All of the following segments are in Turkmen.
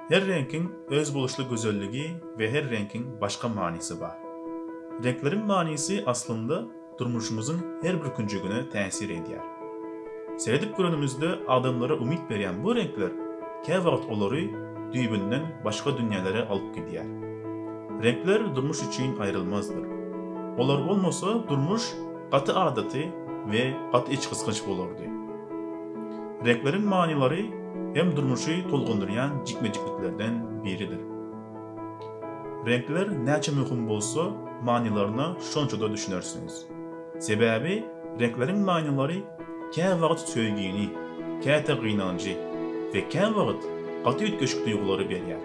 Her reňkiň özboluşly gözelligi we her reňkiň başga manysy bar. Reňkleriň manysy aslynda durmuşymyzyň her bir künjegine täsir edýär. Seredip görenimizde adamlara umyt berýän bu reňkler käwagt olary düýbünden başga dünýälere alyp gidýär. Reňkler durmuş üçin aýrylmazdyr. Olar bolmasa durmuş gaty adaty we gaty içgysgynç bolardy. Reňkleriň manylary hem durmuşy tolgundyrýan jikme-jikliklerden biridir. Reňkler näçe möhüm bolsa, manylaryna şonça-da düşünersiňiz. Sebäbi reňkleriň manylary käwagt söýgini, käte gynanjy we käwagt gaty üýtgeşik duýgulary berýär.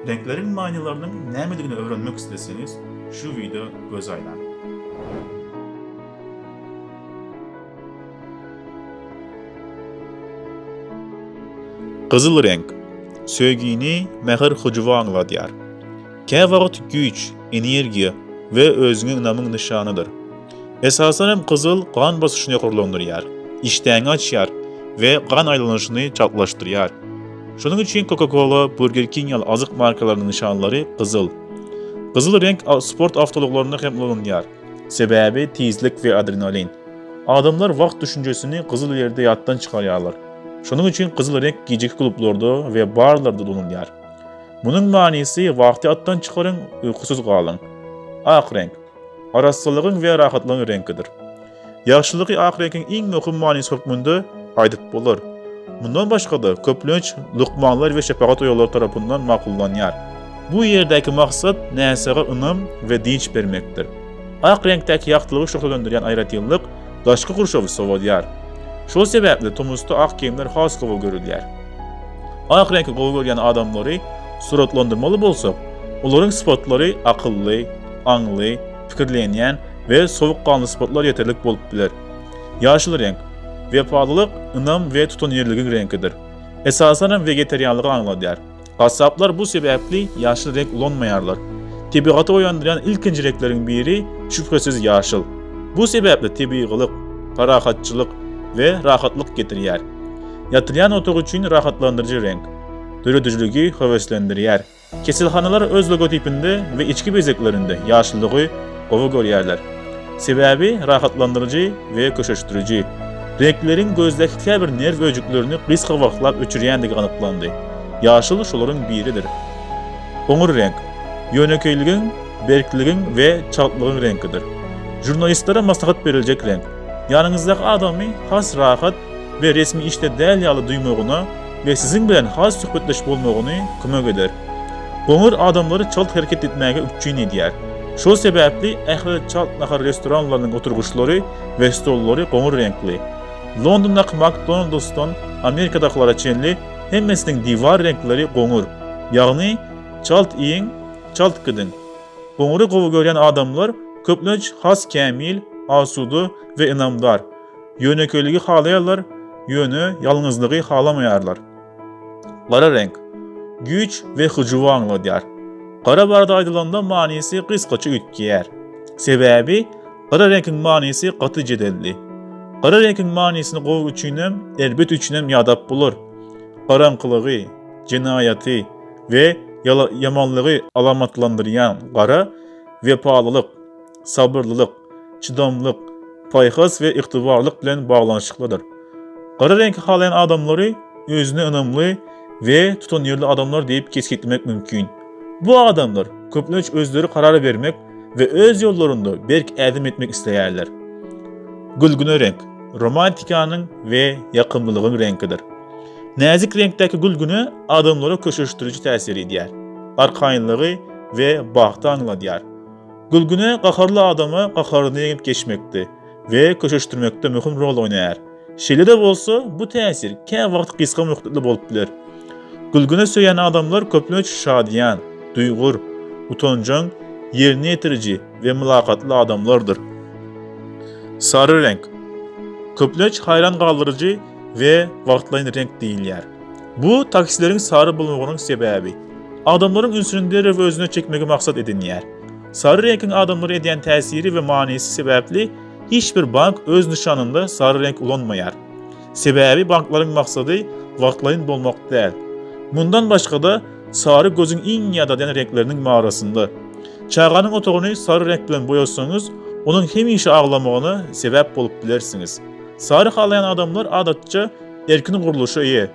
Reňkleriň manylarynyň nämedigini öwrenmek isleseňiz, şu wideo göz aýlaň. Gyzyl reňk, söýgini, mähir-hyjuwy aňladýar. Käwagt güýç, energiýa we özüňe ynamyň nyşanydyr. Esasan hem gyzyl gan basyşyny ýokarlandyrýar, işdäňi açýar we gan aýlanyşyny çaltlaşdyrýar. Şonuň üçin Coca-Cola, Burger King ýaly azyk markalarynyň nyşanlary gyzyl. Gyzyl reňk sport awtoulaglarynda hem ulanylýar. Sebäbi tizlik we adrenalin. Adamlar wagt düşünjesini gyzyl ýerde ýatdan çykarýarlar. Şonuň üçin gyzyl reňk gijeki klublarda we barlarda ulanylýar. Munuň manysy wagty atdan çykaryň, uýkusyz galyň. Ak reňk. Arassalygyň we rahatlygyň reňkidir. Ýagşylygy ahyretiň iň möhüm manysy hökmünde aýdyp bolar. Mundan başga-da, köplenç lukmanlar we şepagat oýalary tarapyndan makullanýar. Bu ýerdäki maksat näsaga ynam we dynç bermekdir. Ak reňkdäki ýagtylygy şöhlelendirýän aýratynlyk daşky gurşawy sowadýar. Şol sebäpli tomusda ak geýimler has gowy görülýär. Ak reňki gowy görýän adamlary suratlandyrmaly bolsak, olaryň sypatlary akylly, aňly, pikirlenýän we sowukganly sypatlar ýeterlik bolup biler. Ýaşyl reňk, wepalylyk, ynam we tutanýerligiň reňkidir. Esasanam wegetarianlygy aňladýar. Gassaplar bu sebäpli ýaşyl reňk ulanmaýarlar. Tebigaty oýandyrýan ilkinji reňkleriň biri, şübhesiz, ýaşyl. Bu sebäpli tebigylyk, parahatçylyk we rahatlyk getirýär. Ýatylýan otag üçin rahatlandyryjy reňk. Döredijiligi höweslendirýär. Keselhanalar öz logotipinde we içki bezeglerinde ýaşlygy gowy görýärler. Sebäbi rahatlandyryjy we köşeşdiriji reňkleriň gözdäki käbir nerw öýjüklerini gysga wagtlap öçürýändigi anyklandy. Ýaşyl şolaryň biridir. Goňur reňk, ýönekeýligiň, berkligiň we çaltlygyň reňkidir. Žurnalistlere maslahat beriljek reňk. Ýanyňyzdaky adamy has rahat, we resmi işde däl ýaly duýmagyna we siziň bilen has söhbetdeş bolmagyny kömek eder. Goňur adamlary çalt hereket etmäge üpjün edýär. Şol sebäpli ähli çalt nahar restoranlarynyň oturgyçlary we stollary goňur reňkli. Londondaky McDonald's-dan Amerikadakylara çenli hemmesiniň diwar reňkleri goňur. Ýagny, çalt iýiň, çalt gidiň. Goňury gowy görýän adamlar köplenç has kämil, asuda we ynamdar. Ýönekeýligi halaýarlar, ýöne ýalňyzlygy halamaýarlar. Gara reňk, güýç we hyjuwy aňladýar. Gara barada aýdylanda manysy gysgaça üýtgeýär. Sebäbi gara reňkiň manysy gaty jedelli. Gara reňkiň manysyny gowy üçinem, erbet üçinem ýadap bolar. Garaňkylygy, jenaýaty we ýamanlygy alamatlandyrýan gara, wepalylyk, sabyrlylyk, çydamlyk, paýhas we ygtybarlylyk bilen baglanyşyklydyr. Gara reňki halaýan adamlary özüne ynamly we tutanýerli adamlar diýip kesgitlemek mümkin. Bu adamlar köplenç özleri karar bermek we öz ýollarynda berk ädim etmek isleýärler. Gülgüne reňk, romantikanyň we ýakymlylygyň reňkidir. Näzik reňkdäki gülgüne adamlara köşeşdiriji täsir edýär, arkaýynlygy we bagty aňladýar. Gülgüne gaharly adama gaharyny ýeňip geçmekde we köşeşdirmekde möhüm rol oýnaýar. Şeýle-de bolsa, bu täsir kä wagt gysga möhletli bolup biler. Gülgüne söýýän adamlar köplenç şadyýan, duýgur, utanjaň, ýerine ýetiriji we mylakatly adamlardyr. Sary reňk. Köplenç haýran galdyryjy we wagtlaýyn reňk diýilýär. Bu taksileriň sary bolmagynyň sebäbi. Adamlaryň ünsüni derrew özüne çekmegi maksat edinýär. Sary reňkiň adamlara edýän täsiri we manysy sebäpli hiç bir bank öz nyşanynda sary reňk ulanmaýar. Sebäbi banklaryň maksady wagtlaýyn bolmak däl. Mundan başga-da, sary gözüň iň ýadadýan reňkleriniň barasynda. Çaganyň otagyny sary reňk bilen boýasaňyz, onuň hemişe aglamagyna sebäp bolup bilersiňiz. Sary halaýan adamlar adatça Erkin gurluşa eýe,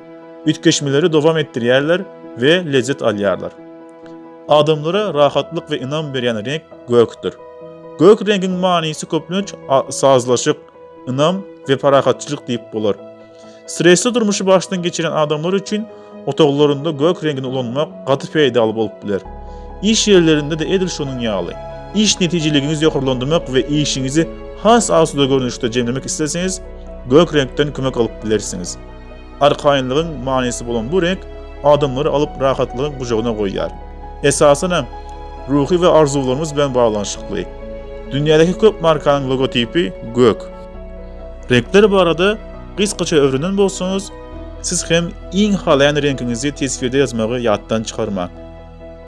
üýtgeşmeleri dowam etdirýärler we lezzet alýarlar. Adamlara rahatlyk we ynam berýän reňk gökdir. Gök reňkiň manysy köplenç sazlaşyk, ynam we parahatçylyk diýip bolar. Stresli durmuşy başdan geçirýän adamlar üçin Otaglarynda gök reňini ulanmak gaty peýdaly bolup biler. Iş ýerlerinde-de edil şonuň ýaly. Iş netijeligiňizi ýokarlandyrmak we işiňizi has asuda görnüşde jemlemek isleseňiz, gök reňkden kömek alyp bilersiňiz. Arkaýynlygyň manysy bolan bu reňk adamlary alyp rahatlygyň gujagyna goýýar. Esasanam, ruhy we arzuwlarymyz bilen baglanyşykly. Dünýädäki köp markanyň logotipi gök. Reňkler barada gysgaça öwrenen bolsaňyz, Siz hem iň halaýan reňkiňizi teswirde ýazmagy ýatdan çykarmaň.